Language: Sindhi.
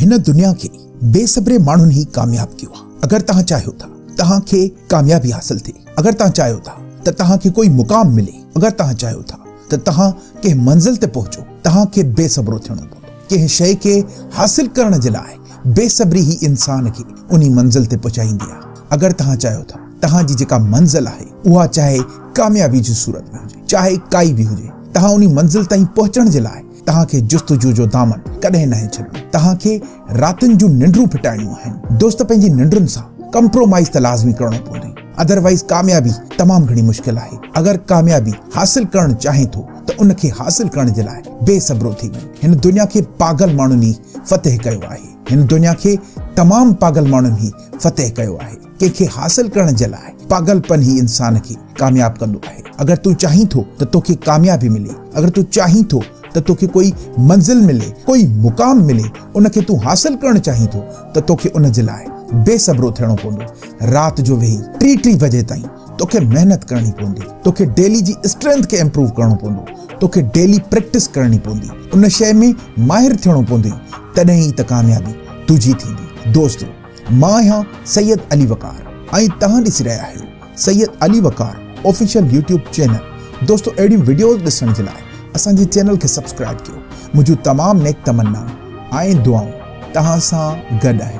هن دنيا کي بي صبري ماڻهن ئي ڪامياب ڪيو آهي. اگر توهان چاهيو ٿا توهان کي ڪاميابي حاصل ٿئي، اگر توهان چاهيو ٿا ته توهان کي ڪوئي مقام ملي، اگر توهان چاهيو ٿا ته توهان ڪنهن منزل تي پهچو، توهان کي بي صبرو ٿيڻو پوندو. ڪنهن شيء کي حاصل ڪرڻ جي لاء بي صبري ئي انسان کي انهي منزل تي پهچائيندي آهي. اگر توهان چاهيو ٿا توهان جي جيڪا منزل آهي اها چاهي ڪاميابي جي صورت ۾ هجي، چاهي ڪائي به هجي، توهان انهي منزل تائين پهچڻ جي لاء توهان کي جستجو جو دامن ڪڏهن ناهي ڇڏڻو. توهان کي راتن جون ننڊون ڦٽائڻيون آهن. دوست پنهنجي ننڊن سان ڪمپرومائيز ته لازمي ڪرڻو پوندي. ادروائيز ڪاميابي تمام گهڻي مشڪل آهي. اگر ڪاميابي حاصل ڪرڻ چاهين ٿو ته ان کي حاصل ڪرڻ جي لاء بي صبرو ٿي وڃ. هن دنيا کي پاگل ماڻهن ئي فتح ڪيو آهي. هن دنيا کي تمام پاگل ماڻهن ئي فتح ڪيو آهي. ڪنهن کي حاصل ڪرڻ جي لاء پاگل پن ئي انسان کي ڪامياب ڪندو آهي. اگر تون چاهين ٿو ته توکي ڪاميابي ملي، اگر تون چاهين ٿو ته توکي ڪوئي منزل ملي، ڪوئي مقام ملي، ان کي تون حاصل ڪرڻ چاهين ٿو ته توکي ان جي لاء بي صبرو ٿيڻو پوندو. رات جو ويهي ٽي ٽي وجي تائين توکي محنت ڪرڻي پوندي. توکي ڊيلي جي اسٽرينٿ کي امپروو ڪرڻو پوندو. توکي ڊيلي پريڪٽس ڪرڻي پوندي. ان شيء ۾ ماهر ٿيڻو پوندئي. تڏهن ئي ته ڪاميابي تنهنجي ٿيندي. دوستو! مان آهيان سيد علي وقار ۽ توهان ڏسي رهيا آهيو Syed Ali Waqar official YouTube channel دوستو اهڙيون وڊيوز ڏسڻ جي لاء اسان جي چينل کي سبسڪرائيب ڪيو منهنجون تمام نيڪ تمنائون ۽ دعائون توهان سان گڏ آهن.